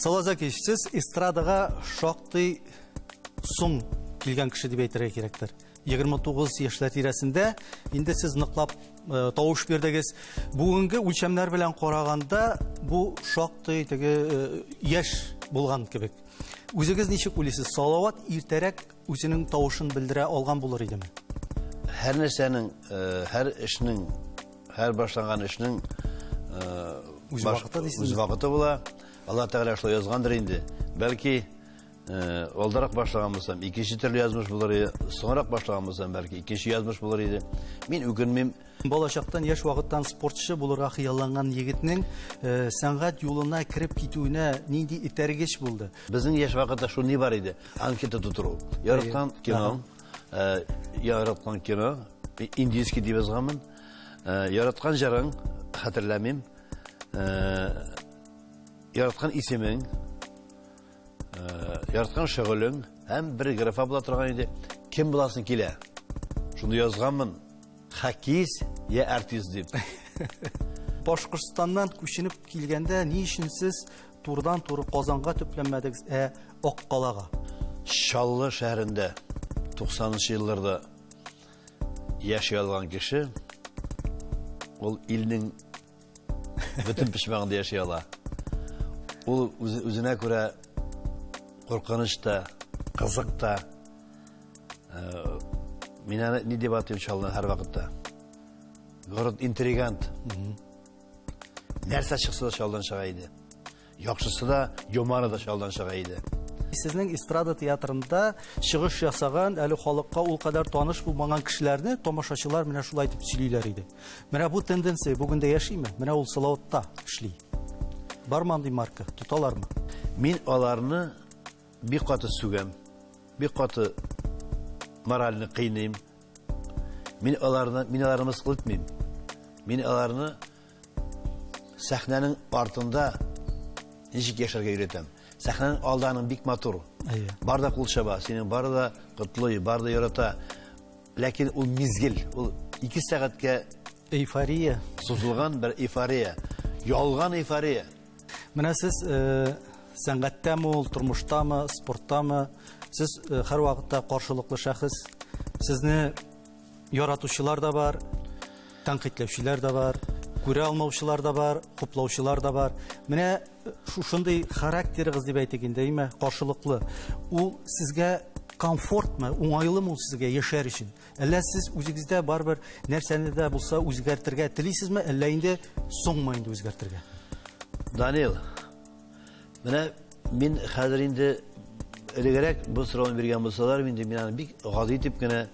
Салаза кич, сез эстрадага шактый соң килгән кеше дип әйтергә кирәктер. 29 яшьләр тирәсендә инде сез ныклап э, тавыш бирдегез. Бүгенге үлчәмнәр белән караганда бу шактый теге э, яшь булган кебек. Үзегез ничек уйлыйсыз? Салават иртәрәк үзенең тавышын белдерә алган булыр идеме? Һәр нәрсәнең, э, һәр эшнең Һәр башланган эшнең үз вакыты дисез. Үз вакыты була. Алла Тәгалә шулай язгандыр инде. Бәлки алдарак башлаган булсам, икенче төрле язмыш булыр иде. Соңрак башлаган булсам, бәлки икенче язмыш булыр иде. Мин үкенмим. Балачактан яшь вакыттан спортчы булырга хыялланган егетнең сәнгать юлына кереп китүенә нинди итәргеч булды? Безнең яшь вакытта шул ни бар иде? Анкета тутыру. Ярыктан кино. Э, яраткан кино э, индийский дип язганмын э, яраткан җырың хәтерләмим яраткан исемең яраткан шөгылең һәм бер графа була торган иде кем буласың килә шуны язганмын Хәкис я артист дип. Башкортстаннан күченеп килгәндә ни өчен сез турыдан туры Казанга төпләнмәдегез, ә Аккалага? Чаллы шәһәрендә 90-нчы елларда яши алган кеше ул илнең бөтен пешмәгендә яши ала. Ул үзенә күрә куркыныч та, кызык та. Э, мин аны ни дип атыйм шул һәр вакытта. Город интригант. Нәрсә чыкса да шулдан чыга иде. Яхшысы да, юморы да чалдан чыга иде. Сезнең эстрада театрында чыгыш ясаган, әле халыкка ул кадәр таныш булмаган кешеләрне тамашачылар менә шулай итеп сөйлиләр иде. Менә бу тенденция бүген дә яшиме? Менә ул Салаватта эшли. Бар мандый марка, тоталармы? Мин аларны бик каты сүгәм, бик каты моральны кыйныйм. Мин аларны, мин аларны мыскыл итмим. Мин аларны Сәхнәнең артында ничек яшәргә өйрәтәм. Сәхнәнең алданың бик матур. Әйе. Бар да кул чаба, синең бар да котлый, бар да ярата. Ләкин ул мизгел, ул 2 сәгатькә эйфория сузылган бер эйфория. Ялган эйфория. Менә сез э, сәнгатьтәме ул, тормыштамы, спорттамы, сез э, һәрвакытта каршылыклы шәхес. Сезне Яратучылар да бар, тәнкыйтьләүчеләр дә бар, күрә алмаучылар да бар, хуплаучылар да бар. Менә э, шушындый характерыгыз дип әйтик инде, әйме, каршылыклы. Ул сезгә комфортмы, уңайлымы ул сезгә яшәр өчен? Әллә сез үзегездә барбер нәрсәне дә булса үзгәртергә телисезме, әллә инде соңмы инде үзгәртергә? Данил, Менә мин хәзер инде элегрәк бу сорауны биргән булсалар, инде мин аны бик гади итеп кенә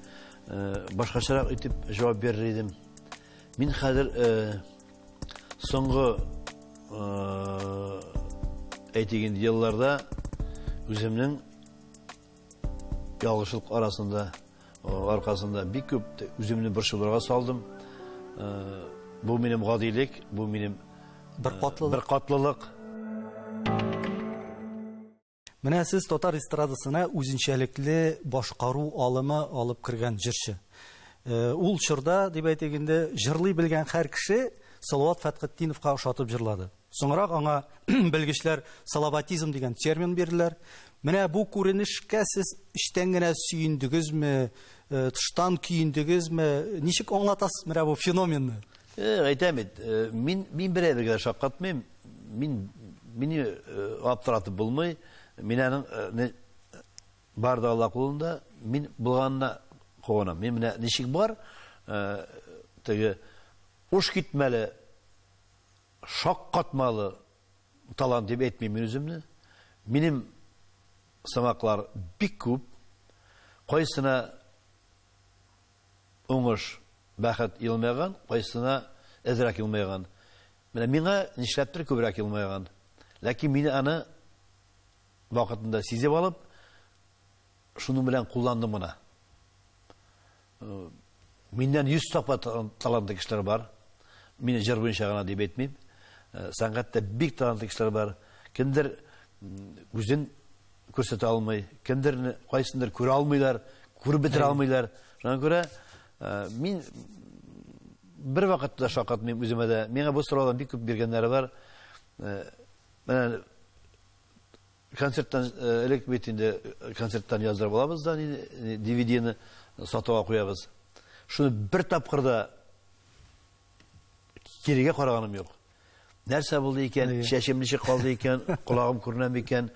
э, башкачарак итеп җавап бирер идем. Мин хәзер э, соңгы э, әйтик инде елларда үземнең Ялгышлык арасында, аркасында бик күп үземне борчуларга салдым. Бу минем гадилек, бу минем бер катлылык. Бер катлылык. Менә сез татар эстрадасына үзенчәлекле башкару алымы алып кергән җырчы. Ул чорда, дип әйтик инде, җырлый белгән һәр кеше Салават Фәтхетдиновка ошатып җырлады. Соңрак аңа белгечләр салаватизм дигән термин бирделәр. Менә бу күренешкә сез эчтән генә сөендегезме, э, тыштан көендегезме? Ничек аңлатасыз менә бу феноменны? Э, әйтәм бит, э, мин мин берәргә дә шаккатмыйм. Мин мине э, аптыратып булмый. Мин аның э, не- бар да Алла кулында. Мин булганына куанам. Мин менә ничек бар, э, теге уш китмәле Шаккатмалы талант дип әйтмим мин үземне. Минем сымаклар бик күп. Кайсына уңыш, бәхет елмайган, кайсына әзрәк елмайган. Менә миңа нишләптер күбрәк елмайган. Ләкин мин аны вакытында сизеп алып, Шуның белән кулландым гына. Миннән йөз тапа талантлы кешеләр бар. Мин җыр буенча гына дип әйтмим. Сәнгатьтә бик талантлы кешеләр бар. Кемдер үзен күрсәтә алмый, кемдер кайсындыр күрә алмыйлар, күреп бетерә алмыйлар. Шуңа күрә мин бер вакытта шаккатмыйм үземә дә. Миңа бу сораулар бик күп биргәннәре бар. Менә Концерттан элек бит инде концерттан яздырып алабыз да DVD-ны сатуга куябыз. Шуны бер тапкыр да кирегә караганым юк. Нәрсә булды икән, чәчем ничек калды икән, колагым күренәме икән,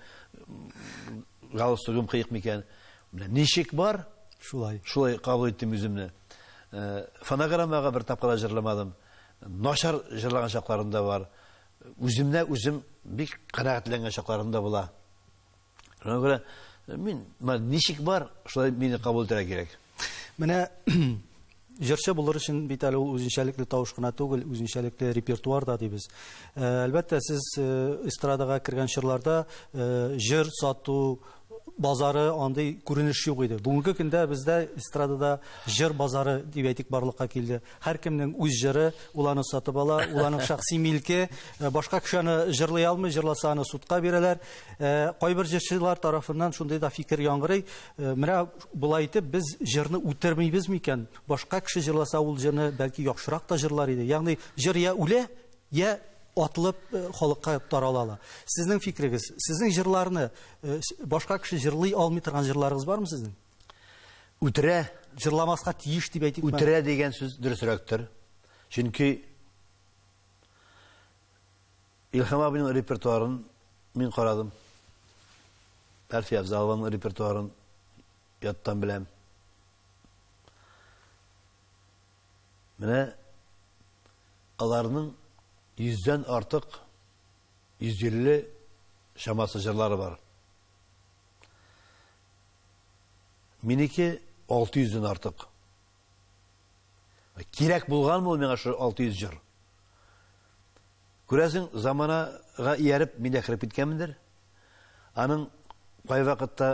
галстугым кыек микән. Менә ничек бар, шулай. Шулай кабул иттем үземне. Фонограммага бер тапкыр да җырламадым. Начар җырлаган чакларым да бар. Үземне үзем бик канәгатьләнгән чакларым да була. Шуңа күрә мин ничек бар, шулай мине кабул итәргә кирәк. Менә җырчы булыр өчен бит әле ул үзенчәлекле тавыш кына түгел, үзенчәлекле репертуар да дибез. Э, әлбәттә, сез э, эстрадага кергән чорларда э, җыр сату, базары андый күренеш юк иде. Бүгенге көндә бездә эстрадада җыр базары дип әйтик барлыкка килде. Һәркемнең үз җыры, ул аны сатып ала, ул аның шәхси милке. Э, башка кеше аны җырлый алмый, җырласа аны судка бирәләр. Э, кайбер җырчылар тарафыннан шундый да фикер яңгырый. Э, менә болай итеп без җырны үтермибез микән? Башка кеше җырласа ул җырны бәлки яхшырак та җырлар иде. Ягъни җыр я үлә, Я атлып халыкка тарала ла. Сезнең фикерегез, сезнең җырларны башка кеше җырлый алмый торган җырларыгыз бармы сезнең? Үтерә. Җырламаска тиеш дип әйтик. Үтерә дигән сүз дөресрәктер. Чөнки Илһам абыйның репертуарын мин карадым. Әлфия Авзалованың репертуарын яттан беләм. Менә аларның йөздән артык, 150 чамасы җырлары бар. Минеке 600 дән артык. Кирәк булган бу миңа шул 600 җыр. Күрәсең, заманага ияреп мин дә кереп киткәнмендер. Аның кайвакытта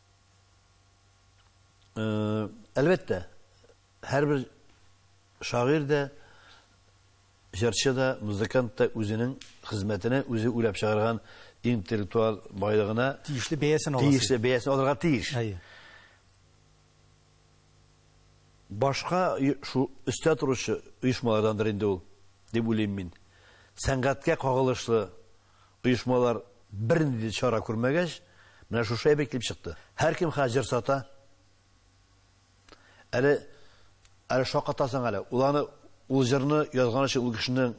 Әлбәттә, һәрбер шагыйрь дә, җырчы да, музыкант та үзенең хезмәтенә, үзе уйлап чыгарган интеллектуаль байлыгына тиешле бәясен ала. Тиешле бәясен алырга тиеш. Әйе. Башка шу өстә торучы оешмалардандыр инде ул, дип уйлыйм мин. Сәнгатькә кагылышлы Оешмалар бернинди дә чара күрмәгәч, менә шушы әйбер килеп чыкты. Һәркем хәзер җыр сата. Әле әле шакатасың әле. Ул аны ул җырны язган өчен ул кешенең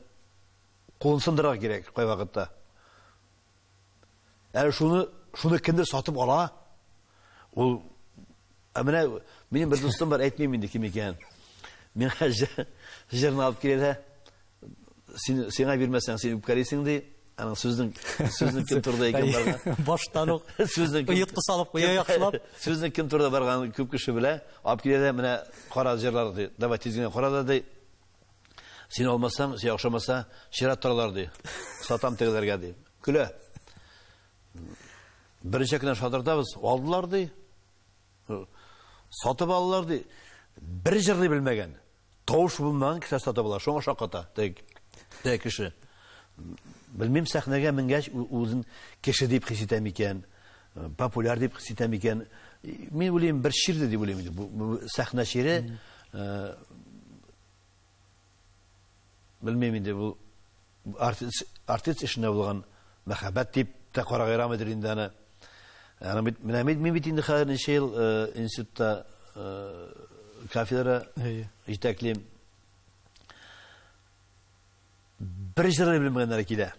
кулын сындырырга кирәк кайвакытта. Әле шуны шуны кемдер сатып ала. Ул Ә менә минем бер дустым бар, әйтмим инде кем икәнен. Миңа җырны алып килә дә, син сиңа бирмәсәң, син үпкәлисең ди. Аның сүзнең сүзнең кем турыда икән барган. Баштан ук сүзнең оетка салып куя яхшылап. Сүзнең кем турыда барган күп кеше белә. Алып килә дә менә кара җырлар ди. Давай тиз генә кара да ди. Син алмасаң, сиңа охшамаса, чират торалар ди. Сатам тегеләргә ди. Көлә. Беренчә кенә шадырдабыз, алдылар ди. Сатып алдылар ди. Бер җырлый белмәгән. Тавыш булмаган кеше сатып ала, шуңа шаката. Тәк. Тәк кеше. Белмим сәхнәгә менгәч үзен кеше дип хис итә микән, популяр дип хис итә микән. Мин уйлыйм, бер чирде дип уйлыйм инде. Бу сәхнә чире. Белмим инде бу артист, артист эшенә булган мәхәббәт дип тә карагырамыдыр инде аны. Аны бит менә мин мин бит инде хәзер ничә ел э, институтта э, кафедра җитәклим. Бер җыры белмәгәннәр килә.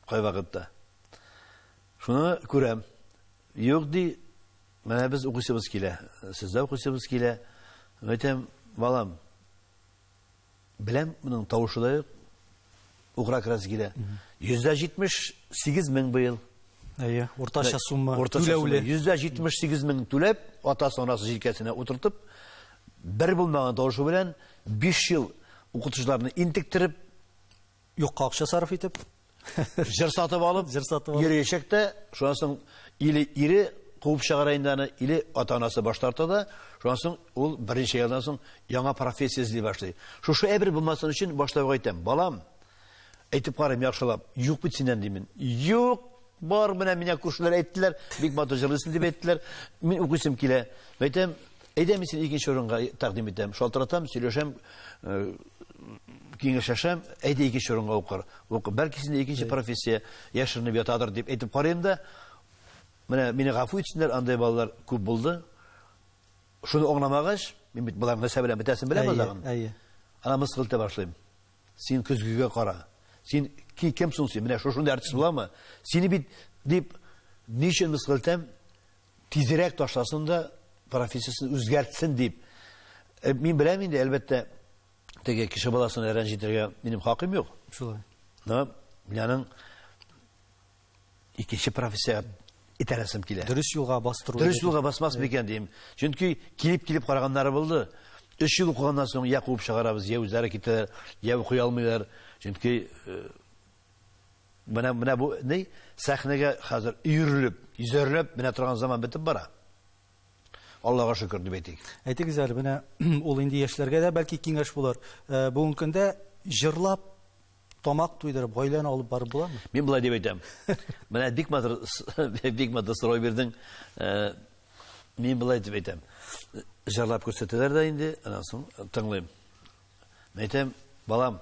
Кайвакытта. Шуны күрәм. Юк ди, Менә без укыйсыбыз килә, сездә укыйсыбыз килә. Әйтәм, балам, беләм, моның тавышы да юк, укыра керәсе килә. Йөздә җитмеш сигез мең быел. Әйе, уртача сумма түләүле. Йөздә җитмеш сигез мең түләп, атасы анасы җилкәсенә утыртып, бер булмаган тавышы белән биш ел укытучыларны интектереп, Юкка акча сарыф итеп. Җыр сатып алып, җыр сатып алып. Йөриячәк тә, шуннан соң или ире куып чыгара инде аны, или ата-анасы баш тарта да, шуннан соң ул берничә елдан соң яңа профессия эзли башлый. Шушы әйбер булмасын өчен башта ук әйтәм, балам, әйтеп карыйм яхшылап, юк бит синнән димен. Юк, бар, менә миңа күршеләр әйттеләр, бик матур җырлыйсың дип әйттеләр. Мин укыйсым килә. Әйтәм, Әйдә, мин сине икенче урынга тәкъдим итәм. Шалтыратам, сөйләшәм, киңәшләшәм, әйдә икенче урынга укыр. Ук, бәлки синдә икенче профессия яшеренеп ятадыр дип әйтеп карыйм да. Менә мине гафу итсеннәр, андай балалар күп булды. Шуны аңламагач, мин бит болар нәрсә белән бетәсен беләм азагын. Әйе. Ана мыскыл итә башлыйм. Син көзгегә кара. Син ки кем соң син? Менә шушында артист буламы? Сине бит дип ничен мыскыл итәм? Тизрәк ташласын да, профессиясен үзгәртсен дип. Э, мин беләм инде, әлбәттә, теге кеше баласын рәнҗетергә минем хакым юк. Шулай. Но миңның икенче профессия итәрәсем килә. Дөрес юлга бастыру. Дөрес юлга басмас микән дим. Чөнки килеп-килеп караганнары булды. Өч ел укыганнан соң я куып чыгарабыз, я үзләре китәләр, я укый алмыйлар. Чөнки э, Менә менә бу ни сәхнәгә хәзер өерелеп, изәрләп менә торган заман бетеп бара. Аллага шөкер дип әйтик. Әйтегез әле, менә ул инде яшьләргә дә бәлки киңәш булыр. Э, бүгенге көндә җырлап тамак туйдырып, гаиләне алып барып буламы? Мин болай дип әйтәм. Менә бик матур бик матур сорау бирдең. Э, мин болай дип әйтәм. Җырлап күрсәтәләр дә инде, аннан соң тыңлыйм. Мин әйтәм, балам,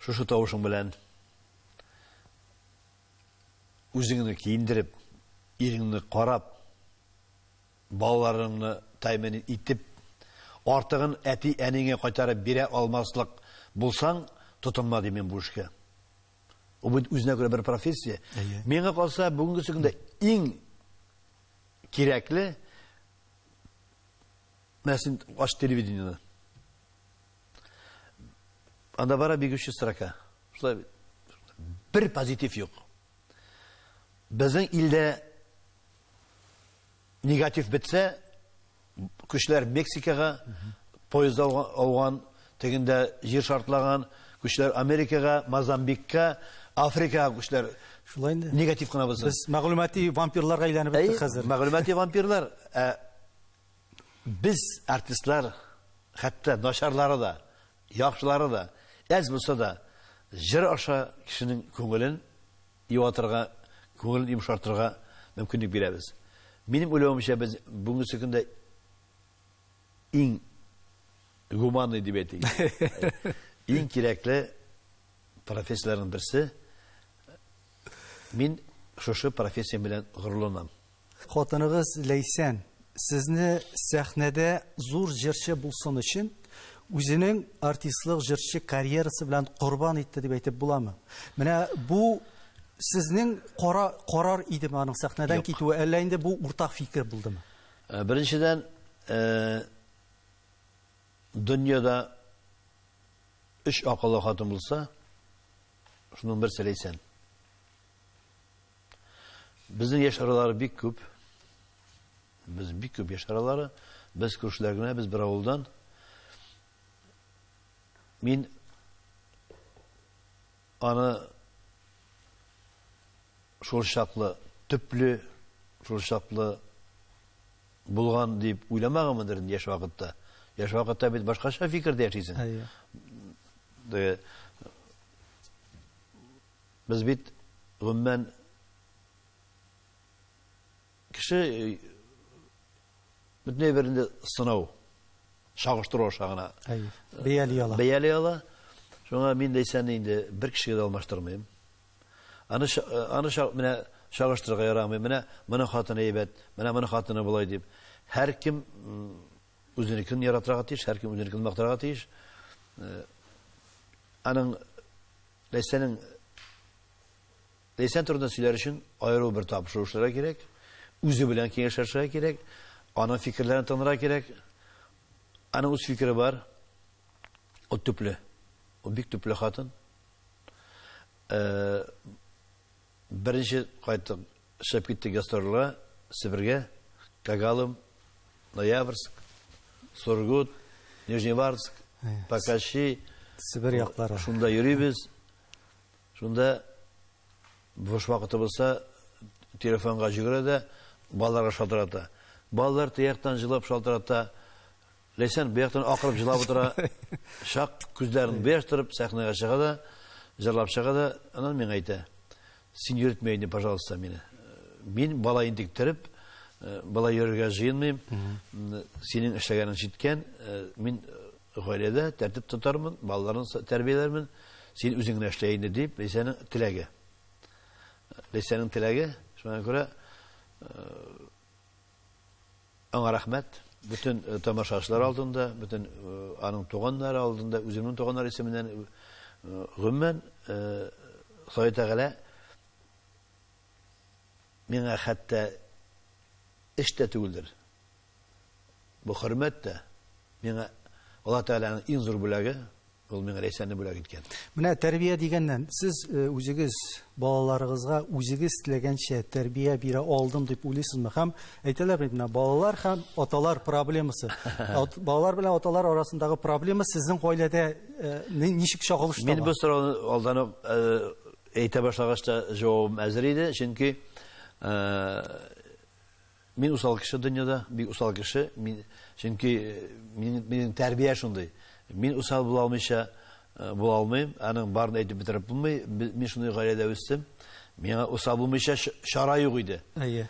шушы тавышың белән үзеңне киендереп, иреңне карап, балаларыңны тәэмин итеп, артыгын әти-әниңә кайтарып бирә алмаслык булсаң, тотынма дим мин бу эшкә. Ул бит үзенә күрә бер профессия. Миңа калса, бүгенге көндә иң кирәкле Менә син ач телевидениены. Анда бара бегущий строка. Шулай бер позитив юк. Безнең илдә негатив бетсә, көчләр Мексикага поезд ауган, тегендә җир шартлаган, көчләр Америкага, Мозамбикка, Африкага көчләр Шулай инде. Негатив кына булсын. Без мәгълүмати вампирларга әйләнеп беттек хәзер. Мәгълүмати вампирлар. Ә Без артистлар хәтта начарлары да, яхшылары да әз булса да җыр аша кешенең күңелен юатырга, күңелен йомшартырга мөмкинлек бирәбез. Минем уйлавымча, без бүгенге көндә иң гуманный дип әйтик. Иң кирәкле профессияләрнең берсе. Мин шушы профессиям белән горурланам. Хатыныгыз Ләйсән сезне сәхнәдә зур җырчы булсын өчен үзенең артистлык җырчы карьерасы белән корбан итте дип әйтеп буламы? Менә бу сезнең кара, карар идеме аның сәхнәдән Юк. китүе, әллә инде бу уртак фикер булдымы? Э, беренчедән, э, дөньяда өч акыллы хатын булса, шуның берсе Ләйсән. Безнең яшь аралары бик күп. Без бик күп яшь аралары. Без күршеләр генә, без бер авылдан. Мин аны шул чаклы төпле, шул чаклы булган дип уйламагымдыр инде яшь вакытта. Яшь вакытта бит башкача фикердә яшисең. Әйе. Без бит, гомумән, кеше бөтен әйбер инде сынау, чагыштыру аша гына бәяли ала. Бәяли ала. Шуңа мин дәйсән инде бер кешегә дә алмаштырмыйм. Аны аны менә чагыштырырга ярамый. Менә моны хатыны әйбәт, менә моны хатыны болай дип. Һәркем үзенекен яратырга тиеш, һәркем үзенекен мактарга тиеш. Аның Ләйсәнең Ләйсән турында сөйләр өчен аеру бер табышлар эшләргә кирәк, үзе белән киңәшләшергә кирәк, аның фикерләрен тыңларга кирәк. Аның үз фикере бар. Ул төпле. Ул бик төпле хатын. Э, Беренче кайтып чыгып киттек гастрольгә Себергә, Когалым, Ноябрьск, Сургут, Нижневартск, Покащи, Себер яклары. Шунда йөрибез. Шунда буш вакыты булса, телефонга җөгерә дә, балаларга шалтырата. Балалар тияктан җылап шалтырата, Ләйсән бу яктан акырып җылап утыра, чак күзләрен беш торып, сәхнәгә чыга да, җырлап чыга да, аннан миңа әйтә, Син йөртмә инде, пожалуйста, мине. Мин бала интектереп, э, бала йөрергә җыенмыйм. Синең эшләгәнең җиткән. Э, мин э, гаиләдә тәртип тотармын, балаларны тәрбияләрмен. Син үзең генә эшлә инде, дип, Ләйсәнең теләге. Ләйсәнең теләге, шуңа күрә Аңа рәхмәт. Бөтен тамашачылар алдында, бөтен аның туганнары алдында, үземнең туганнар исеменнән гомумән Ходай Тәгалә миңа хәтта эш тә түгелдер. Бу хөрмәт тә миңа Аллаһ Тәгаләнең иң зур бүләге. Ул миңа Ләйсәнне бүләк иткән. Менә тәрбия дигәннән, сез үзегез балаларыгызга үзегез теләгәнчә тәрбия бирә алдым дип уйлыйсызмы? Һәм әйтәләр бит менә балалар һәм аталар проблемасы. Балалар белән аталар арасындагы проблема сезнең гаиләдә ничек чагылыш таба? Мин бу сорауны алдан ук әйтә башлагач та җавабым әзер иде, чөнки Мин усал кеше дөньяда, бик усал кеше, мин, чөнки минем, минем тәрбия шундый. Мин усал була алмыйча була алмыйм, аның барын әйтеп бетереп булмый. Мин шундый гаиләдә үстем. Миңа усал булмыйча чара юк иде. Әйе.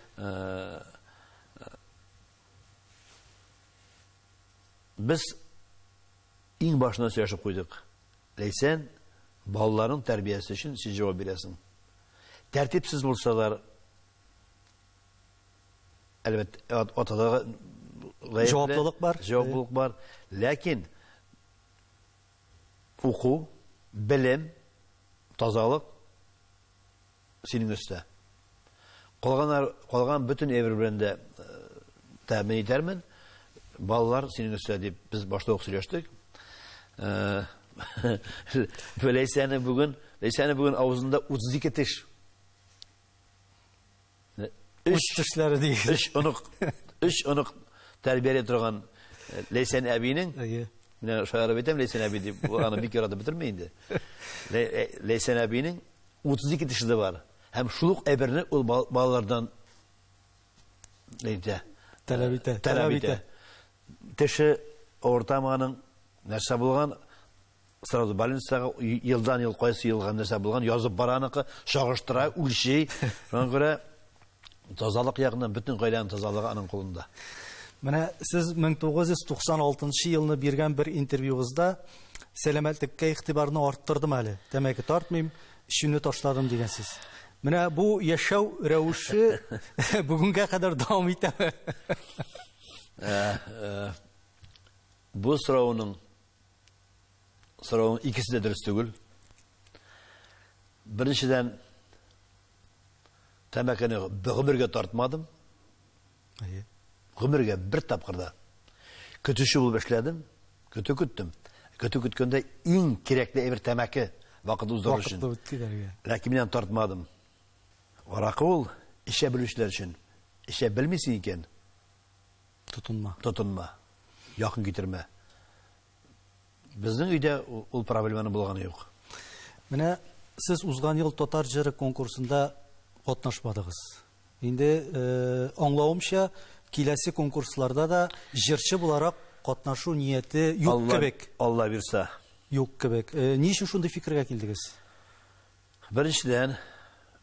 Без иң башына сөйләшеп куйдык. Ләйсән, балаларның тәрбиясе өчен син җавап бирәсең. Тәртипсез булсалар, Әлбәт, атада җаваплылык бар. Җаваплылык бар. Ләкин уку, белем, тазалык синең өстә. Калган калган бөтен әйбер белән дә тәэмин итәрмен. Балалар синең өстә дип без башта ук сөйләштек. Ләйсәне бүген, Ләйсәне бүген авызында 32 теш. Үз төшләре дигез. Өч онык, өч онык тәрбияли торган э, Ләйсән әбинең, менә шаярып әйтәм, Ләйсән әби дип, аны бик яратып бетерми инде. Э, Ләйсән әбинең 32 тешли бар. Һәм шул ук әйберне ул балалардан әйтә. Таләп итә. Таләп итә. Теше ортаманың нәрсә булган, Сразу больницага елдан-ел кайсы ел һәм нәрсә булган, язып бара аныкы, чагыштыра, үлчи. Шуңа күрә тазалык ягыннан бөтен гаиләнең тазалыгы аның кулында. Менә сез 1996 елны биргән бер интервьюгызда сәламәтлеккә игътибарны арттырдым әле. Тәмәке тартмыйм, эчүне ташладым дигәнсез. Менә бу яшәү рәвеше бүгенгә кадәр дәвам итәме? Э, э, бу сорауның Сорауның икесе дә дөрес түгел. Беренчедән, тәмәкене гомергә тартмадым. Әйе. Гомергә бер тапкырда көтүче булып эшләдем, көтү көттем. Көтү көткәндә иң кирәкле әйбер тәмәке вакыт уздыру өчен. Вакытны үткәрергә. Ләкин мин тартмадым. Аракы ул эчә белүчеләр өчен. Эчә белмисең икән, Тотынма. Тотынма. Якын китермә. Безнең өйдә ул проблеманы булганы юк. Менә сез узган ел татар җыры конкурсында катнашмадыгыз. Инде э, аңлавымча, киләсе конкурсларда да җырчы буларак катнашу нияте юк кебек. Алла бирса. Юк кебек. Э, ни өчен шундый фикергә килдегез? Беренчедән,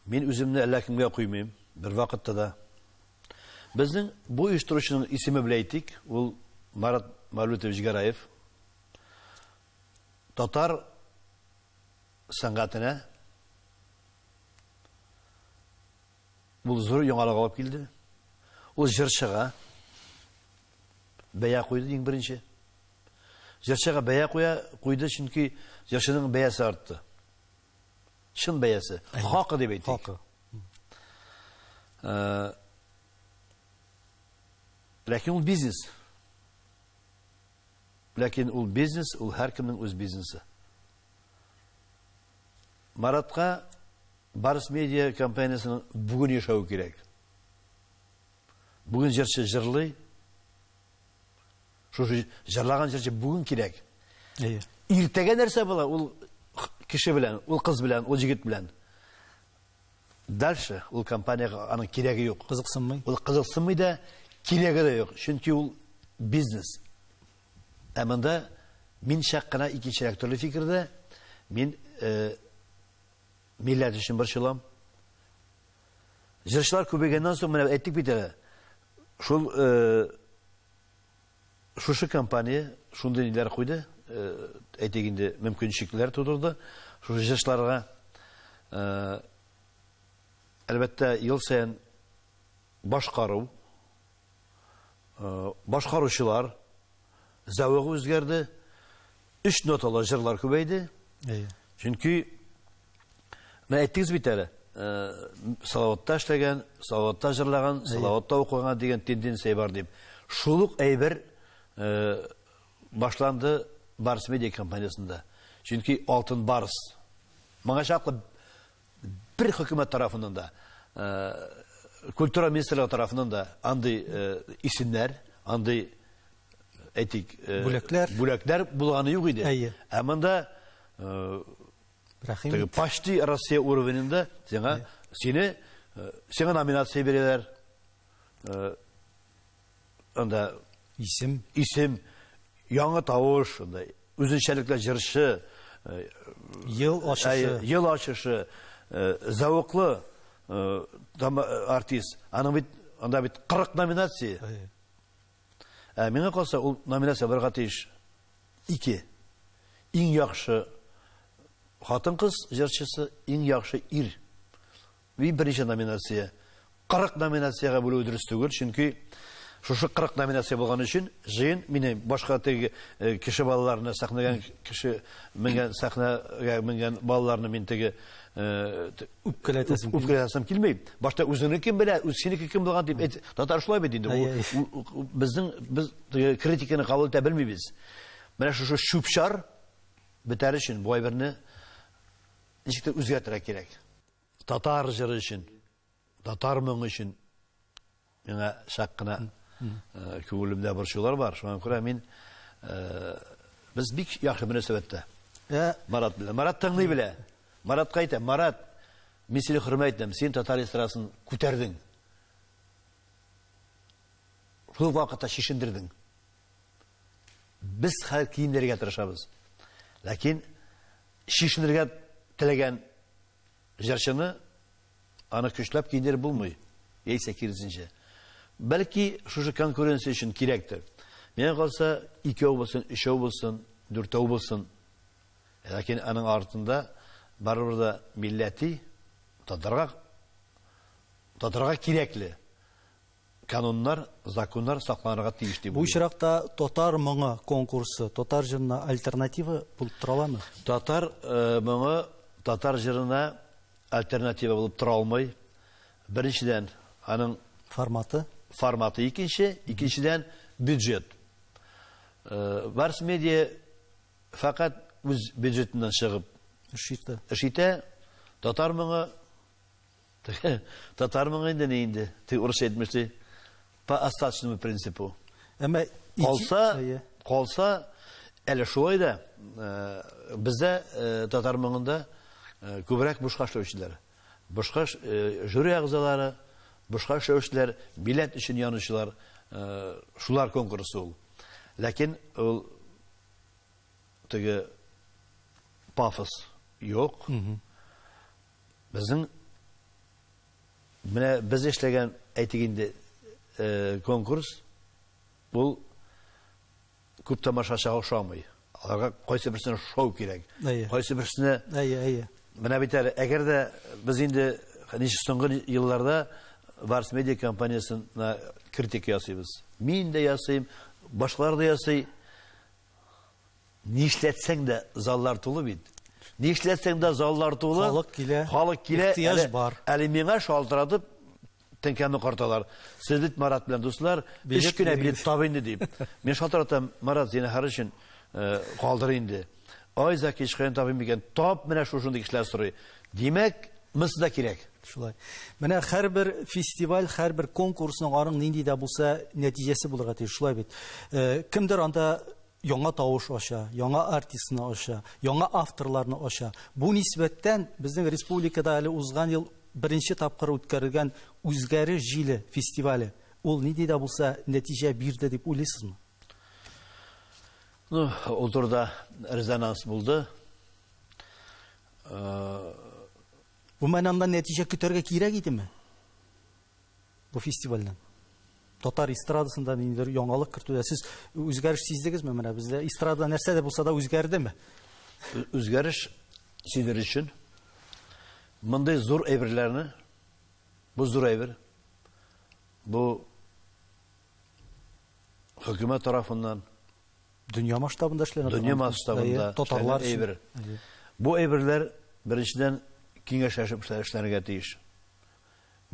мин үземне әллә кемгә куймыйм, бер вакытта да. Безнең бу оештыручының исеме белән әйтик, ул Марат Мәүлүтович Гәрәев. Татар сәнгатенә ул зур яңалык алып килде. Ул җырчыга бәя куйды иң беренче. Җырчыга бәя куя куйды, чөнки җырчының бәясе артты. Чын бәясе, хакы дип әйтик. Хакы. Э, ләкин ул бизнес. Ләкин ул бизнес, ул һәркемнең үз бизнесы. Маратка Барс медиа компаниясенең бүген яшәве кирәк. Бүген җырчы җырлый. Шушы җырлаган җырчы бүген кирәк. Әйе. Иртәгә нәрсә була? Ул кеше белән, ул кыз белән, ул җегет белән. Дальше ул компаниягә аның кирәге юк. Кызыксынмый. Ул кызыксынмый да, кирәге дә юк. Чөнки ул бизнес. Ә монда мин чак кына икенчерәк төрле фикердә. Мин э, милләт өчен борчылам. Җырчылар күбәйгәннән соң, менә әйттек бит әле, шул шушы компания шундый ниләр куйды, әйтик инде, мөмкинчелекләр тудырды шушы җырчыларга. Әлбәттә, ел саен башкару Башкаручылар зәвыгы үзгәрде. Өч ноталы җырлар күбәйде. Чөнки менә әйттегез бит әле, Салаватта эшләгән, Салаватта җырлаган, Салаватта укыган дигән тенденция бар дип. Шул ук әйбер башланды Барс медиа компаниясендә. Чөнки Алтын Барс моңа чаклы Бер хөкүмәт тарафыннан да, культура министрлыгы тарафыннан да андый исемнәр, андый әйтик, бүләкләр, бүләкләр булганы юк иде. Әйе. Ә монда Рәхим ит. Почти Россия уровенендә сиңа сине сиңа номинация бирәләр. анда исем, исем, яңа тавыш, анда үзенчәлекле җырчы, э, ел ачышы, э, ел ачышы, э, зәвыклы артист. Аның бит анда бит 40 номинация. Ә миңа калса, ул номинация барга тиеш. 2. Иң яхшы хатын-кыз җырчысы, иң яхшы ир Бу беренче номинация. 40 номинациягә бүлүе дөрес түгел, чөнки шушы 40 номинация булган өчен җыен мине башка теге э, кеше балаларны сәхнәгән кеше менгән сәхнәгә менгән балаларны мин теге э, үпкәләтәсем үпкәләтәсем килми. Башта үзеңне кем белә, үз синеке кем булган дип әйт. Татар шулай бит инде. Безнең без критиканы кабул итә белмибез. Менә шушы чүпчар бетәр өчен бу әйберне ничектер үзгәртергә кирәк. Татар җыры өчен, татар моңы өчен миңа чак кына э, күңелемдә борчулар бар. Шуңа күрә мин э, без бик яхшы мөнәсәбәттә. Ә Марат белән. Марат тыңлый белә. Маратка әйтә, Марат, мин сине хөрмәт итәм, син татар эстрадасын күтәрдең. Шул вакытта шешендердең. Без хәзер киенергә тырышабыз. Ләкин чишенергә теләгән җырчыны аны көчләп киендереп булмый. Яисә киресенчә. Бәлки шушы конкуренция өчен кирәктер. Миңа калса, икәү булсын, өчәү булсын, дүртәү булсын. Ләкин аның артында барыбер да милләти татарга татарга кирәкле кануннар, законнар сакланырга тиеш дип Бу уйлыйм. очракта Татар моңы конкурсы татар җырына альтернатива булып тора аламы? Татар моңы татар җырына альтернатива булып тора алмый. Беренчедән, аның Форматы? форматы икенче, икенчедән, бюджет. Барс медиа фәкать үз бюджетыннан чыгып Эш итә. эш итә. Татар моңы Теге татар моңы инде ни инде. Теге урысча әйтмеш ди. По остаточному принципу. Әмма калса, калса әле шулай да э, бездә э, татар моңында э, күбрәк бушка эшләүчеләр. Бушка жюри әгъзалары, бушка эшләүчеләр, билет өчен янучылар, шулар конкурсы ул. Ләкин ул теге пафос юк. Безнең менә без эшләгән, әйтик инде, конкурс, ул күп тамашачыга ошамый. Аларга кайсы берсенә шоу кирәк. Кайсы берсенә Әйе, әйе. Менә бит әле, әгәр дә без инде ничек соңгы елларда Варс медиа компаниясенә критика ясыйбыз. Мин дә ясыйм, башкалар да ясый. Нишләтсәң дә заллар тулы бит. Нишләтсәң дә заллар тулы. Халык килә. Халык килә. Ихтыяҗ бар. Әле миңа шалтыратып теңкәмне карталар. Сез бит Марат белән дуслар, өч кенә билет таб инде дип. Мин шалтыратам, Марат, зинһар өчен э, калдыр инде. Ай, Заки, һичкаян табыйм микән? Тап, менә шушындый кешеләр сорый. Димәк, мысы да кирәк. Шулай. Менә һәрбер фестиваль, һәрбер конкурсның аның нинди дә булса нәтиҗәсе булырга тиеш, шулай бит. Э, кемдер анда яңа тавыш ача, яңа артистны ача, яңа авторларны ача. Бу нисбәттән безнең республикада әле узган ел беренче тапкыр үткәрелгән Үзгәре җиле фестивале. Ул нинди дә булса нәтиҗә бирде дип уйлыйсызмы? Ну, ул турыда резонанс булды. Э, Гомумән анда нәтиҗә көтәргә кирәк идеме? Бу фестивальдән. Татар эстрадасында ниндидер яңалык кертүдә сез үзгәреш сиздегезме? Менә бездә эстрада нәрсә дә булса да үзгәрдеме? Үзгәреш сиздер өчен мондый зур әйберләрне бу зур әйбер бу хөкүмәт тарафыннан Дөнья масштабында эшләнә Дөнья масштабында татарлар әйбер. Бу әйберләр беренчедән киңәшләшеп эшләргә тиеш.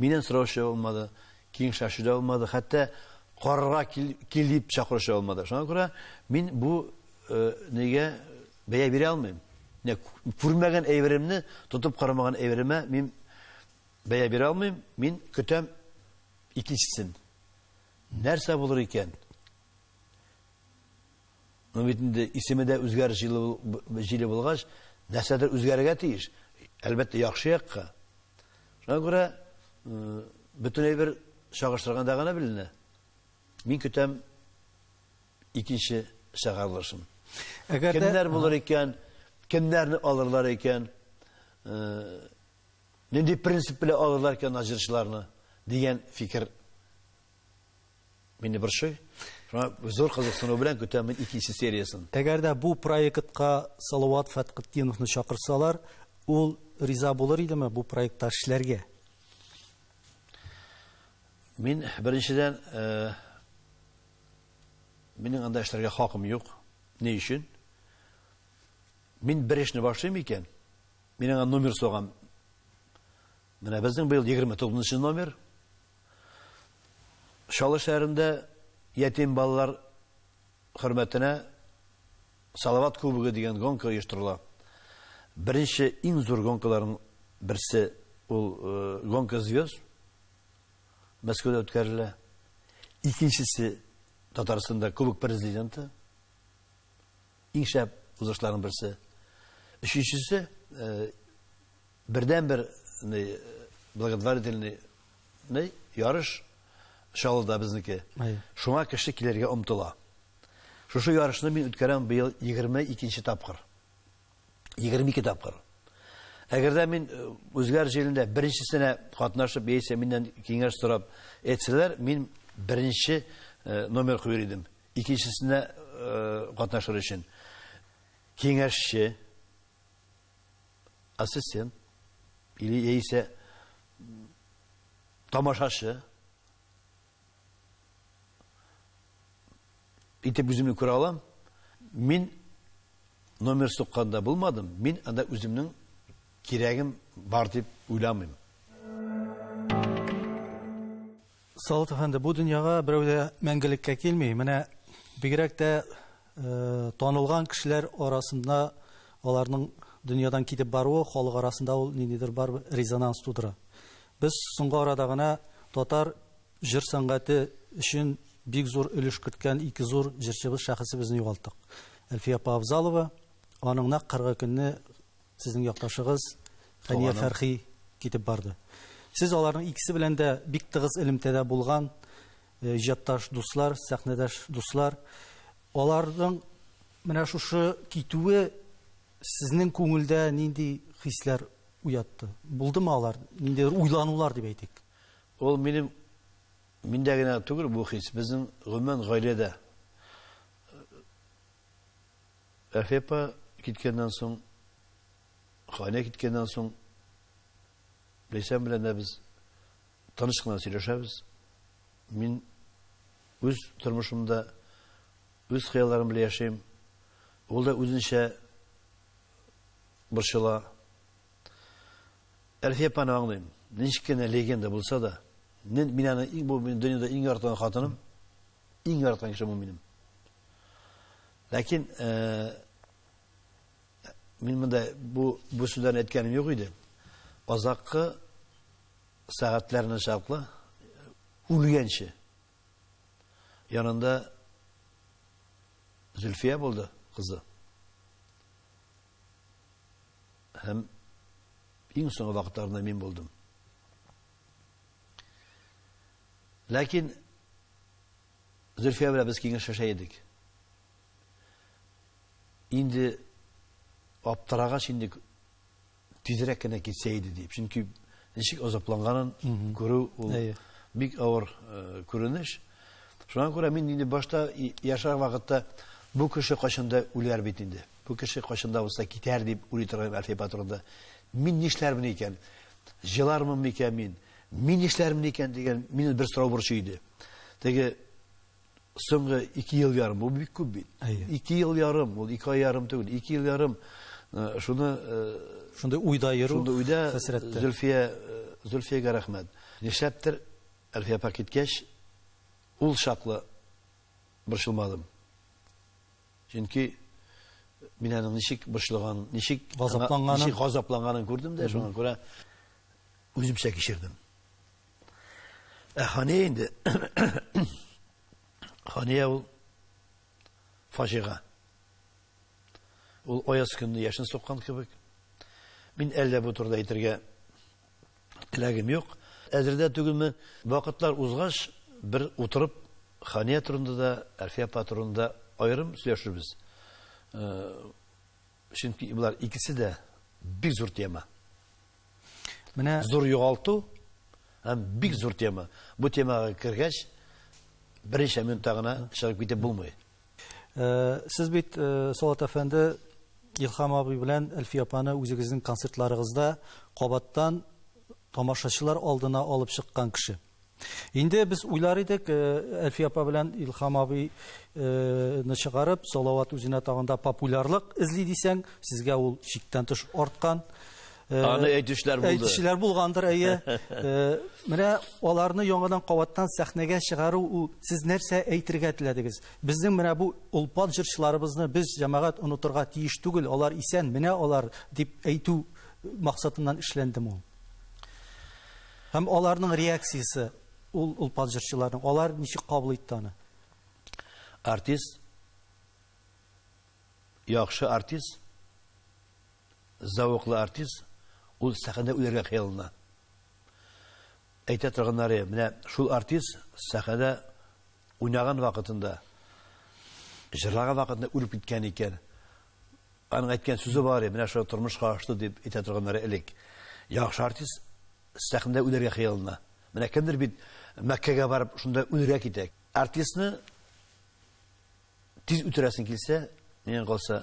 Миннән сораучы булмады, киңәшләшү дә булмады, хәтта карарга кил дип чакыручы булмады. Шуңа күрә мин бу э, нигә бәя бирә алмыйм. Менә күрмәгән әйберемне, тотып карамаган әйберемә мин бәя бирә алмыйм. Мин көтәм икенчесен. Нәрсә булыр икән? Ну бит инде исеме дә үзгәрер җире булгач, нәрсәдер үзгәрергә тиеш. Әлбәттә, яхшы якка. Шуңа күрә бөтен әйбер чагыштырганда гына беленә. Мин көтәм икенче чыгарылышын. Әгәр кемнәр булыр икән, кемнәрне алырлар икән, нинди принцип белән алырлар икән наҗырчыларны дигән фикер Мине борчый. Шуңа зур кызыксыну белән көтәм мин икенче сериясен. Әгәр дә бу проектка Салават Фәткытдиновны чакырсалар, ул риза булыр идеме бу проектта эшләргә? Мин беренчедән э, минем анда эшләргә хакым юк. Ни өчен? Мин бер эшне башлыйм икән, мин аңа номер сораган. Менә безнең быел 29 номер. Чаллы шәһәрендә ятим балалар хөрмәтенә Салават кубогы дигән гонка оештырыла. Беренче иң зур гонкаларның берсе ул э, гонка звезд Мәскәүдә үткәрелә. Икенчесе Татарстанда кубок президенты Иң шәп узышларның берсе. Өченчесе, бердәнбер благотворительный ярыш Чаллыда безнеке. Шуңа кеше килергә омтыла. Шушы ярышны мин үткәрәм быел 22 нче тапкыр. 22 тапкыр. Әгәр дә мин үзгәр җирендә беренчесенә катнашып, яисә миннән киңәш сорап әйтсәләр, мин беренче номер куер идем. Икенчесенә катнашыр өчен киңәшче, ассистент или яисә тамашачы итеп үземне күрә алам. Мин номер сукканда булмадым, мин анда үземнең кирәгем бар дип уйламыйм. Салават әфәнде, бу дөньяга берәү дә мәңгелеккә килми. Менә бигрәк тә танылган кешеләр арасында аларның дөньядан китеп баруы халык арасында ул ниндидер бар резонанс тудыра. Без соңгы арада гына татар җыр сәнгате өчен бик зур өлеш керткән ике зур җырчыбыз шәхесебезне югалттык. Әлфия апа Авзалова, аның нәкъ кыргы көнне Сезнең якташыгыз Фәния Фәрхи китеп барды. Сез аларның икесе белән дә бик тыгыз элемтәдә булган иҗатташ дуслар, сәхнәдәш дуслар. Аларның менә шушы китүе сезнең күңелдә нинди хисләр уятты? Булдымы алар? Ниндидер уйланулар дип әйтик. Ул минем миндә генә түгел бу хис, безнең гомумән гаиләдә Әхи апа киткәннән соң, Хания киткәннән соң Ләйсән белән дә без тыныч кына сөйләшәбез. Мин үз тормышымда үз хыялларым белән яшим. Ул да үзенчә борчыла. Әлфия апаны аңлыйм. Ничек кенә легенда булса да, мин аны иң бу дөньяда иң яратган хатыным. Иң яраткан кешем ул минем. Ләкин э, мин монда бу бу сүзләрне әйткәнем юк иде. Азаккы сәгатьләрне чаклы үлгәнче янында Зөлфия булды кызы. Һәм иң соңгы вакытларында мин булдым. Ләкин Зөлфия белән без киңәшләшә идек. Инде аптырагач инде тизрәк кенә китсә иде дип. Чөнки ничек азапланганын күрү ул бик авыр күренеш. Шуңа күрә мин инде башта яшәгән вакытта бу кеше кайчанда үләр бит инде. Бу кеше кайчанда булса китәр дип уйлый торган Әлфия патронда. Мин нишләрмен икән? Җылармын микән мин? Мин нишләрмен икән дигән мине бер сорау борчый иде. Теге соңгы ике ел ярым, бу бик күп бит. Ике ел ярым, ул ике ай ярым түгел, ике ел ярым э, шуны э, шундый уйда йөрү, шундый уйда хәсрәттә. Зөлфия э, Зөлфиягә рәхмәт. Нишләптер Әлфия апа киткәч, ул чаклы борчылмадым. Чөнки мин аның ничек борчылган, ничек газапланганын, ничек газапланганын күрдем дә, шуңа күрә үземчә кичердем. Ә Хания инде Хания ул фаҗига. Ул аяз көнне яшен суккан кебек. Мин әллә бу турыда әйтергә теләгем юк. Әзердә түгелмен. Вакытлар узгач, бер утырып, Хания турында да, Әлфия апа турында да аерым сөйләшербез. Чөнки болар икесе дә бик зур тема. Менә зур югалту һәм бик зур тема. Бу темага кергәч, берничә минутта гына чыгып китеп булмый. Э, сез бит, э, Салат әфәнде, Илхам абый белән Әлфия апаны үзегезнең концертларыгызда кабаттан тамашачылар алдына алып чыккан кеше. Инде без уйлар идек, э, Әлфия апа белән Илхам абыйны э, чыгарып, Салават үзенә тагында популярлык эзли дисәң, сезгә ул чиктән тыш арткан. Э, Аны әйтүчеләр булды. Әйтүчеләр булгандыр, әйе. Э, менә аларны яңадан кабаттан сәхнәгә чыгару ул сез нәрсә әйтергә теләдегез? Безнең менә бу олпат җырчыларыбызны без җәмәгать онытырга тиеш түгел, алар исән, менә алар дип әйтү максатыннан эшләндем ул. Һәм аларның реакциясе ул олпат җырчыларның, алар ничек кабул итте аны? Артист яхшы артист Зәвыклы артист, ул сәхнәдә үләргә хыяллана. Әйтә торганнары, менә шул артист сәхнәдә уйнаган вакытында, җырлаган вакытында үлеп киткән икән. Аның әйткән сүзе бар, менә шулай тормышка ашты дип әйтә торганнары элек. Яхшы артист сәхнәдә үләргә хыяллана. Менә кемдер бит Мәккәгә барып, шунда үлергә китә. Артистны тиз үтерәсең килсә, миңа калса,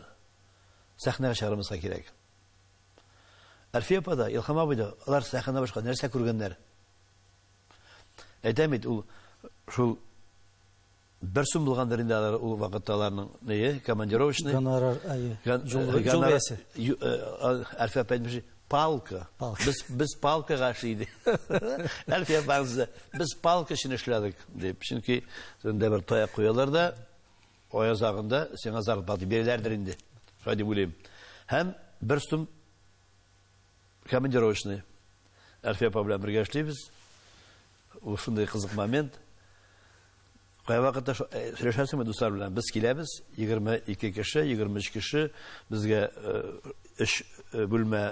сәхнәгә чыгармаска кирәк. Әлфия апа да, Илһам абый да, алар сәхнәдән башка нәрсә күргәннәр? Әйтәм бит, ул шул бер сум булгандыр инде алар ул вакытта аларның нее, командировочный. Гонорар, әйе. Юл бәясе. Әлфия апа әйтмешли, палка. Без без палкага эшли иде. Әлфия апа без палка өчен эшләдек, дип. Чөнки, сездә бер таяк куялар да, Ай азагында сиңа зарплата дип бирәләрдер инде, шулай дип уйлыйм. Һәм бер сум командировочный. Әлфия апа белән бергә эшлибез. Ул шундый кызык момент. Кайвакытта сөйләшәсеңме дуслар белән? Без киләбез, 22 кеше, 23 кеше, безгә өч бүлмә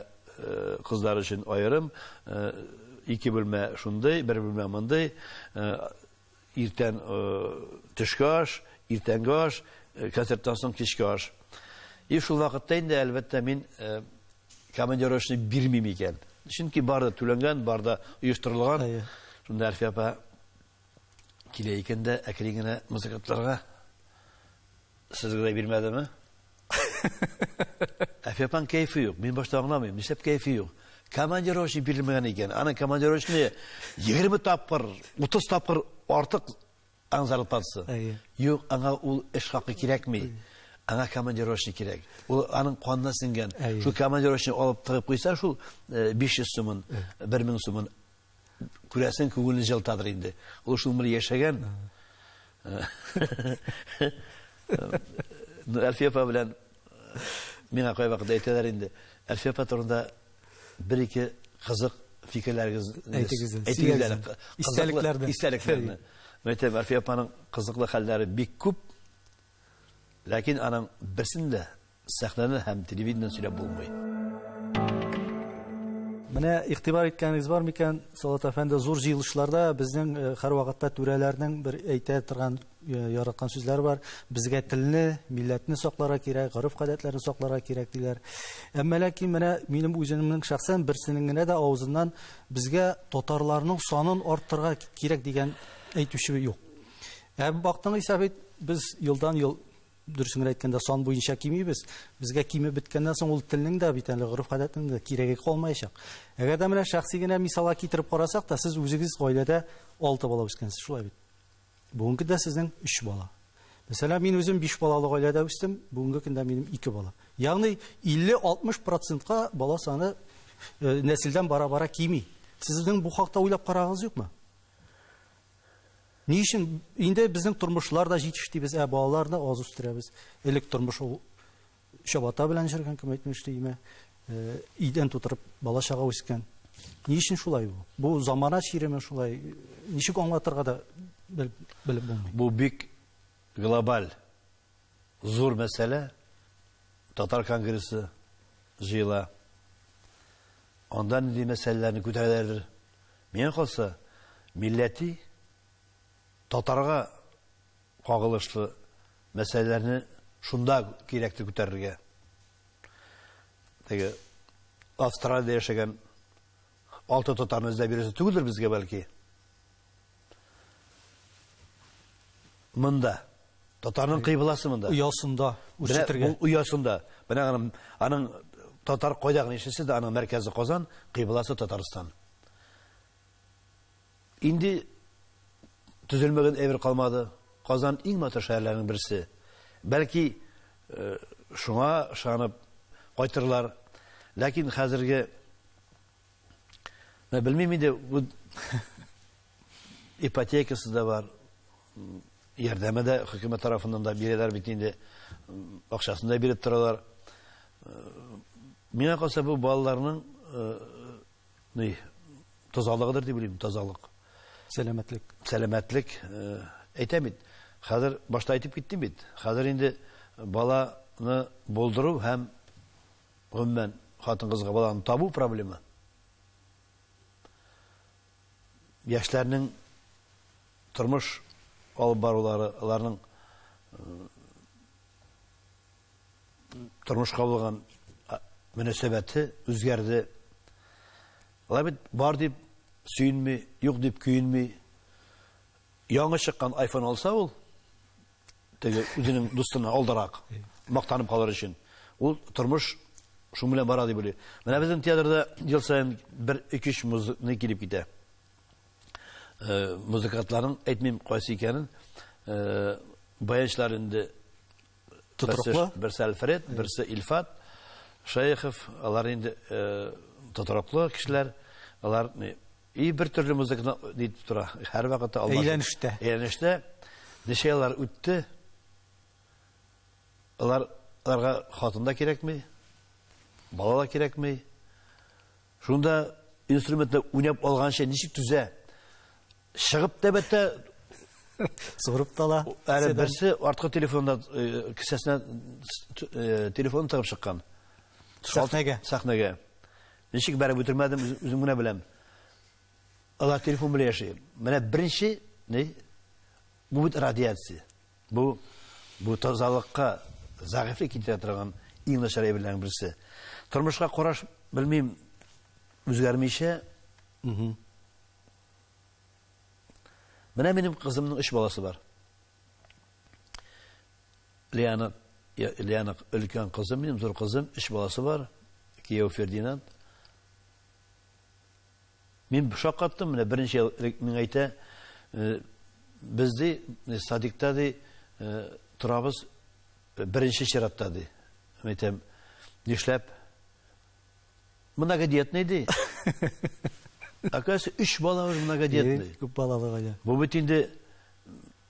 кызлар өчен аерым, ике бүлмә шундый, бер бүлмә мондый. Иртән төшке аш, иртәнге аш, концерттан соң кичке аш. И шул вакытта инде, әлбәттә, мин командировочный бирмим икән. Чөнки бар да түләнгән, бар да оештырылган. Шунда Әлфия апа килә икән дә, әкрен генә музыкантларга Сезгә дә бирмәдеме? Әфепан кәйфе юк. Мин башта аңламыйм, нишләп кәйфе юк? Командировочный бирелмәгән икән. Аны командировочный 20 тапкыр, 30 тапкыр артык аң зарплатасы. Юк, аңа ул эш хакы кирәкми. Аңа командировочный кирәк. Ул аның канына сеңгән. Шул командировочный алып тыгып куйса, шул 500 сумын, 1000 сумын Күрәсең, күңелне җылытадыр инде. Ул шул гомер яшәгән. Ну, Әлфия апа белән миңа кайвакыт әйтәләр инде. Әлфия апа турында бер-ике кызык фикерләрегез әйтегез. Әйтегез әле. Истәлекләрне. Истәлекләрне. Мәйтәм, Әлфия апаның кызыклы хәлләре бик күп. Ләкин аның берсен дә Сәхнәдән һәм телевидениедән сөйләп булмый. Менә игътибар иткәнегез бар микән, Салат әфәнде, зур җыелышларда безнең э, һәрвакытта түрәләрнең бер әйтә торган э, яраткан сүзләре бар. Безгә телне, милләтне сакларга кирәк, гореф-гадәтләрне сакларга кирәк диләр. Әмма ләкин менә минем үземнең шәхсән берсенең генә дә авызыннан безгә татарларның санын арттырырга кирәк дигән әйтүче юк. Ә бактың исә бит без елдан-ел Дөресеңрәк әйткәндә, сан буенча кимибез. Безгә кимеп беткәннән соң ул телнең дә бит әле гореф-гадәтнең дә кирәге калмаячак. Әгәр дә менә шәхси генә мисалга китереп карасак та, сез үзегез гаиләдә алты бала үскәнсез, шулай бит? Бүгенге көндә сезнең өч бала. Мәсәлән, мин үзем биш балалы гаиләдә үстем, бүгенге көндә минем ике бала. Ягъни 50-60 процентка бала саны э, нәселдән бара-бара кими. Сезнең бу хакта уйлап карагыз юкмы? Ни өчен инде безнең тормышлар да җитеш дибез, ә балаларны аз үстерәбез. Элек тормыш ул чабата белән җөргән, кем әйтмешли, имә, э, идән тутырып бала чага үскән. Ни өчен шулай бу? Бу замана чиреме шулай? Ничек аңлатырга да бел, белеп булмый. Бу бик глобаль зур мәсьәлә. Татар конгрессы җыела. Анда нинди мәсьәләләрне күтәрәләрдер? Миңа калса, милләти, татарга кагылышлы мәсьәләләрне шунда кирәк дип күтәрергә. Теге Австралиядә яшәгән алты татарны эзләп йөрәсе түгелдер безгә бәлки. Монда. Татарның кыйбласы монда. Оясында үрчетергә. Бу оясында. Менә аның аның татар кайда гына яшәсә дә, аның мәркәзе Казан, кыйбласы Татарстан. Инде төзелмәгән әйбер калмады. Казан иң матур шәһәрләрнең берсе. Бәлки э, шуңа ышанып кайтырлар. Ләкин хәзерге Менә белмим инде, бу ипотекасы да бар, ярдәме дә хөкүмәт тарафыннан да бирәләр бит инде, акчасын да биреп торалар. Миңа калса, бу балаларның ни, тазалыгыдыр дип уйлыйм, тазалык. Сәламәтлек. Сәламәтлек. Әйтәм бит, хәзер башта әйтеп киттем бит, хәзер инде баланы булдыру һәм Гомумән, хатын-кызга баланы табу проблема яшьләрнең тормыш алып барулары, аларның тормышка булган мөнәсәбәте үзгәрде. Алар бит бар дип сөенми, юк дип көенми. Яңа чыккан iPhone алса ул, теге үзенең дустына алдарак мактанып калыр өчен. Ул тормыш шуның белән бара дип уйлый. Менә безнең театрда ел саен бер өч-өч музыкны килеп китә. Э, музыкантларның әйтмим кайсы икәнен, э, баянчылар инде Тотроклы? Берсе Альфред, берсе Ильфат Шаехов, алар инде э, тотроклы кешеләр, алар И бер төрле музыканы ни итеп тора, һәрвакыт алда. Әйләнештә. Әйләнештә ничә еллар үтте? Алар аларга хатын да кирәкми, бала да кирәкми. Шунда инструментны уйнап алганчы ничек түзә? Чыгып тәбәттә Сорып тала. Әле берсе арткы телефонда э, кесәсенә э, телефон тагып чыккан. Сәхнәгә. Сәхнәгә. Ничек бәреп үтермәдем, үзем генә беләм. Алар телефон белән яши. Менә беренче, ни? Бу бит радиация. Бу бу тазалыкка зәгыйфлек китерә торган иң начар әйберләрнең берсе. Тормышка караш, белмим, үзгәрмичә. Угу. Менә минем кызымның өч баласы бар. Лианың Лианың өлкән кызым минем, зур кызым, өч баласы бар. Кияү Фердинанд. Мин шаккаттым, менә беренче ел элек миңа әйтә, э, без ди, э, садикта ди, э, торабыз беренче чиратта ди. Мин әйтәм, нишләп? Многодетный ди. Оказывается, өч бала уже многодетный. Күп балалы гаилә. Бу бит инде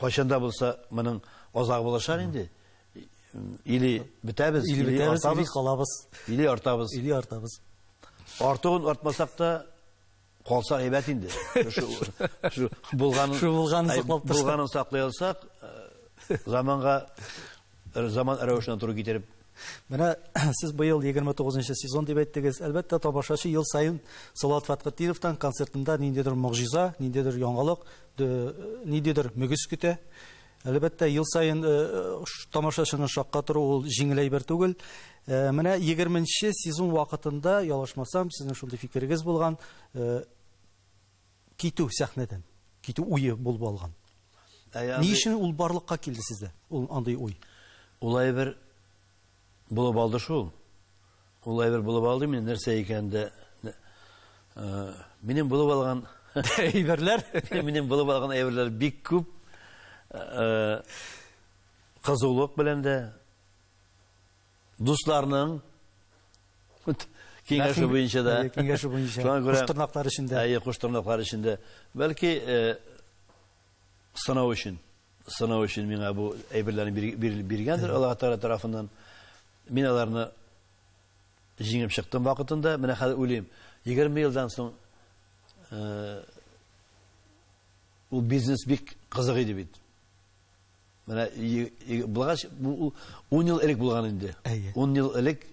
Кайчан да булса моның азагы булачак инде. Или бетәбез, или бетәбез, или калабыз. Или артабыз. Или артабыз. Артуын артмасак та калса әйбәт инде. Булганын саклап торсак. Булганын саклый алсак, заманга Заман рәвешенә туры китереп. Менә сез быел 29 нчы сезон дип әйттегез. Әлбәттә, тамашачы ел саен Салават Фәтхетдиновтан концертында ниндидер могҗиза, ниндидер яңалык, ниндидер мөгез көтә. Әлбәттә, ел саен тамашачыны шаккатыру ул җиңел әйбер түгел. Менә 20 нче сезон вакытында, ялгышмасам, сезнең шундый фикерегез булган, китү сәхнәдән китү уе булып алган. Ни өчен ул барлыкка килде сездә? Ул андый уй. Ул әйбер булып алды шул. Ул әйбер булып алды мин нәрсә икән дә минем булып алган әйберләр, минем булып алган әйберләр бик күп. Кызулык белән дә дусларның киңәше буенча да киңәше буенча коштырнаклар эчендә әйе коштырнаклар эчендә бәлки сынау өчен сынау өчен миңа бу әйберләрне биргәндер алла тәгалә тарафыннан мин аларны җиңеп чыктым вакытында менә хәзер уйлыйм егерме елдан соң ул бизнес бик кызык иде бит Менә булгач, бу 10 ел элек булган инде. 10 ел элек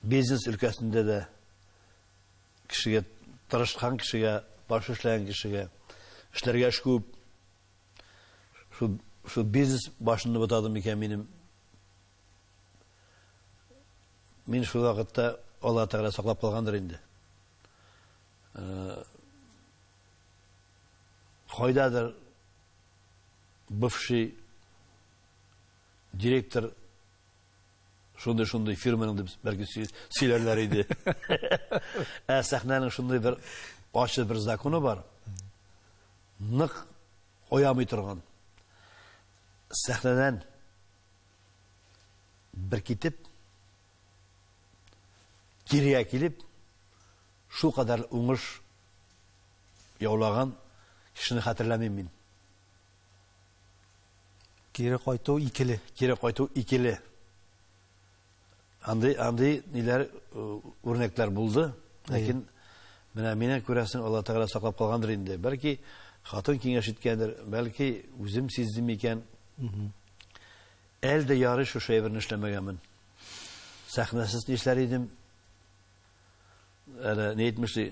бизнес өлкәсендә дә кешегә тырышкан кешегә, баш эшләгән кешегә эшләргә эш күп. Шул шул бизнес башында бутадым икән минем. Мин шул вакытта Алла Тәгалә саклап калгандыр инде. Кайдадыр бывший директор шундый шундый фирманың дип бәлки сөйләрләр иде. Ә сәхнәнең шундый бер ачы бер законы бар. Нык оямый торган. Сәхнәдән бер китеп кирегә килеп, шулкадәр уңыш яулаган кешене хәтерләмим мин. Кире кайту икеле. Кире кайту икеле. Андый, андый ниләр үрнәкләр булды, ләкин менә мине күрәсең, Алла Тәгалә саклап калгандыр инде. Бәлки хатын киңәш иткәндер, бәлки үзем сиздем икән. Әлдә ярый шушы әйберне эшләмәгәнмен. сәхнәсез нишләр идем? Әнә ни әйтмешли,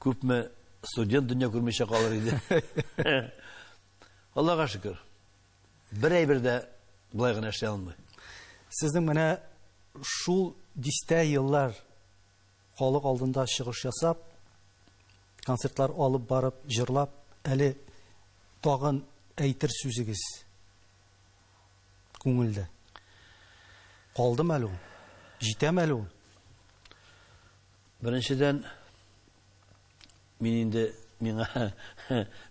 күпме студент дөнья күрмичә калыр иде. Аллага шөкер. Бер әйбер дә болай гына эшли алмый. Сезнең менә шул дистә еллар халык алдында чыгыш ясап, концертлар алып барып, җырлап, әле тагын әйтер сүзегез күңелдә. Калдымы әле ул? Җитәме әле ул? Беренчедән, мин инде, миңа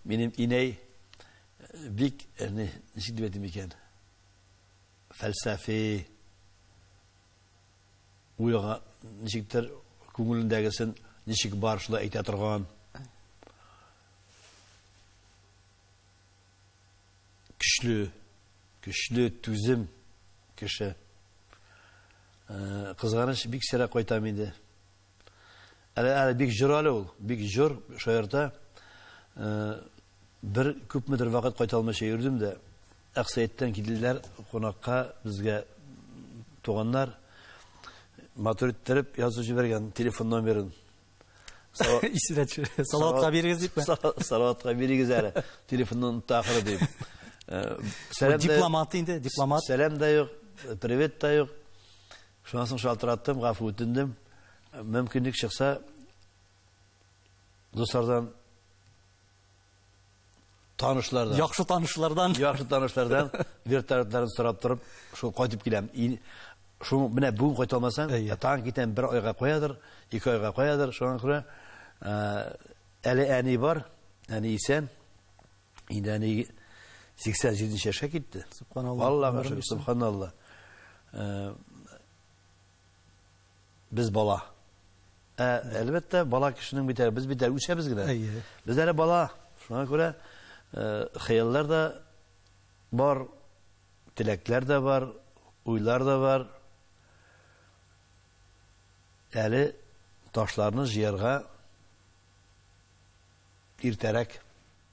минем инәй бик, ничек дип әйтим икән, фәлсәфи, уйга, ничектер, күңелендәгесен ничек бар, шулай әйтә торган. Көчле, көчле, түзем кеше. Кызганыч, бик сирәк кайтам инде. Әле, әле бик җор әле ул, бик җор, шаярта. Бер күпмедер вакыт кайта алмыйча йөрдем дә, Аксәйттән килделәр кунакка безгә туганнар. Матур иттереп язып җибәргән телефон номерын. Исенә төшерә. Салаватка бирегез дипме? Салаватка бирегез әле. Телефонны онытты ахыры дип. Э, дипломат инде, дипломат. Сәлам да юк, привет та юк. Шуннан соң шалтыраттым, гафу үтендем. Мөмкинлек чыкса, дуслардан танышлардан. Яхшы танышлардан. Яхшы танышлардан вертолетларын сорап торып, шул кайтып киләм. Шул менә бүген кайта алмасаң, тагын китәм бер айга куядыр, ике айга куядыр, шуңа күрә әле әни бар, әни исән. Инде әни 87 нче яшькә китте. Субханалла. Аллага шөкер, субханалла. без бала. Ә, әлбәттә, бала кешенең бит әле, без бит әле үсәбез генә. Әйе. Без әле бала. Шуңа күрә э, хыяллар да бар, теләкләр дә бар, уйлар да бар. Әле ташларны җыярга иртәрәк.